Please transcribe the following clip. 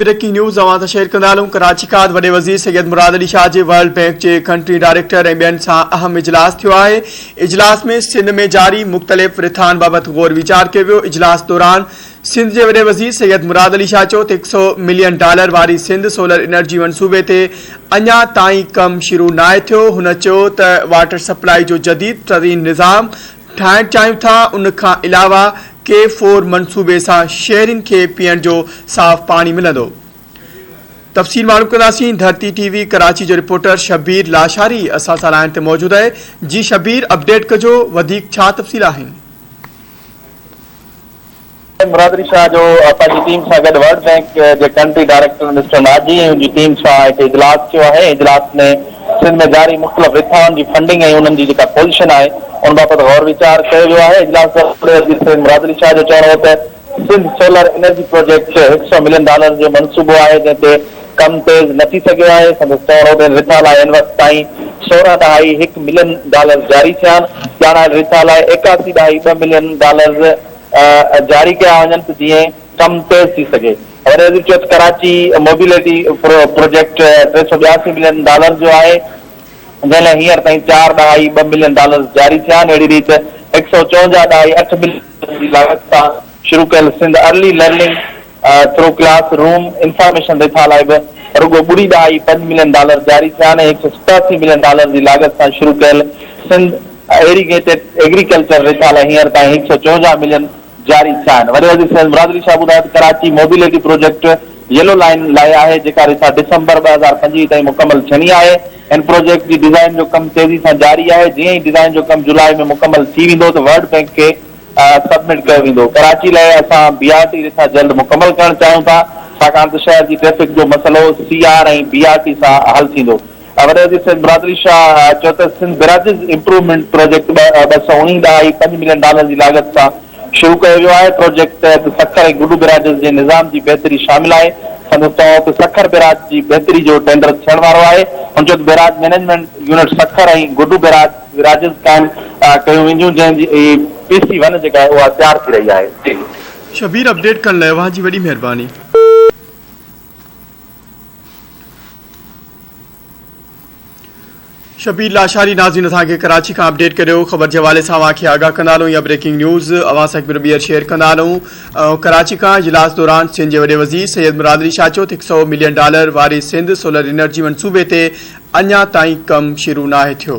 Breaking news اوهان سان share ڪندا هلون ڪراچي کان وڏي وزير سيد مراد علي شاهه جي ورلڊ بينڪ جي ڪنٽري ڊائريڪٽر ۽ ٻين سان اهم اجلاس ٿيو آهي اجلاس ۾ سنڌ ۾ جاري مختلف رٿان بابت غور ويچار ڪيو ويو اجلاس دوران سنڌ جي وڏي وزير سيد مراد علي شاهه چيو ته هڪ سؤ ملين ڊالر واري سنڌ سولر انرجي منصوبي تي اڃا تائين ڪم شروع ناهي ٿيو هن چيو ته واٽر سپلائي جو جديد ترين نظام ٺاهڻ چاهيون ٿا، ان کان علاوه ڪي فور منصوبي سان شهرين کي پيئڻ جو صاف پاڻي ملندو. تفصيل معلوم ڪنداسين، ڌرتي ٽي وي ڪراچي جو رپورٽر شبير لاشاري اسان سان لائن تي موجود اهي، جي شبير اپڊيٽ ڪجو وڌيڪ ڇا تفصيل آهن. مراد علي شاهه جو پنهنجي ٽيم سان گڏ ورلڊ بئنڪ جي ڪنٽري ڊائريڪٽر مسٽر ناجي ۽ ان جي ٽيم سان هڪ اجلاس ٿيو آهي، اجلاس ۾ سنڌ ۾ جاري مختلف رٿائن جي فنڊنگ ۽ انهن جي جيڪا پوزيشن آهي ان بابت غور ويچار ڪيو ويو آهي، اجلاس دوران وڏي وزير سيد مراد علي شاهه جو چوڻ هو ته سنڌ سولر انرجي پروجيڪٽ هڪ سئو ملين ڊالرز جو منصوبو آهي جنهن تي ڪم تيز نه ٿي سگهيو آهي، سندس چوڻ هو ته ان رٿا لاء هن وقت تائين سورهن ڏهائي هڪ ملين ڊالرز جاري ٿيا آهن، ڄاڻايل رٿا لاء ايڪاسي ڏهائي ٻه ملين ڊالرز جاري ڪيا وڃن ته جيئن ڪم تيز ٿي سگهي. وڏي وزير چيو ته ڪراچي موبيلٽي پروجيڪٽ ٽي سؤ ٻياسي ملين ڊالرز جو آهي، جنهن لاء هينئر تائين چار ڏهائي ٻه ملين ڊالرز جاري ٿيا آهن، اهڙي ريت هڪ سؤ چونجاهه ڏهائي اٺ ملين ڊالرز جي لاڳت سان، شروع ڪيل Sindh early learning through classroom information رٿا لاء به رڳو ٻڙي ڏهائي پنج ملين ڊالر جاري ٿيا آهن ۽ هڪ سؤ ستاسي ملين ڊالر جي لاڳت سان شروع ڪيل سنڌ ايريگيٽيڊ ايگريڪلچر رٿا لاء هينئر تائين هڪ سؤ چونجاهه ملين جاري ٿيا آهن. وڏي وزير سيد مراد علي شاهه ٻڌايو ته Karachi mobility project yellow line لاء آهي جيڪا رٿا ڊسمبر ٻه هزار پنجويهه تائين مڪمل ٿيڻي آهي هن پروجيڪٽ جي ڊيزائين جو ڪم تيزي سان جاري آهي جيئن ئي ڊيزائين جو ڪم جولاء ۾ مڪمل ٿي ويندو ته ورلڊ بئنڪ کي سبمٽ ڪيو ويندو. ڪراچي لاء اسان بي آر ٽي رٿا جلد مڪمل ڪرڻ چاهيون ٿا ڇاڪاڻ ته شهر جي ٽريفڪ جو مسئلو C R ۽ B R T سان حل ٿيندو. وڏي وزير سيد مراد علي شاهه چيو ته سنڌ بريجز امپروومينٽ پروجيڪٽ ٻه سؤ اڻيهن ڏهائي پنج ملين ڊالرن جي لاڳت سان شروع ڪيو ويو آهي، پروجيڪٽ تحت سکر ۽ گڊو بريجز جي نظام جي بهتري شامل آهي، سندس چوڻ هو ته سکر بيراج جي بهتري جو ٽينڊر ٿيڻ وارو آهي، هن چيو ته barrage management unit Sukkur ۽ Guddu barrage. گراجز قائم ڪيون وينديون جنهن جي پي سي ون جيڪا آهي اها تيار ٿي رهي آهي. شبير اپڊيٽ ڪرڻ لاء اوهان جي وڏي مهرباني. شبير لاشاري ناظرين اسان کي ڪراچي کان اپڊيٽ ڪريو خبر جي حوالي سان اوهان کي آگاهه ڪندا هلون يا بريڪنگ نيوز اوهان سان هڪ ڀيرو ٻيهر شيئر ڪندا هلون ڪراچي کان اجلاس دوران سنڌ جي وڏي وزير سيد مراد علي شاهه چيو ته هڪ سئو ملين ڊالر واري سنڌ سولر انرجي منصوبي تي اڃا تائين ڪم شروع ناهي ٿيو.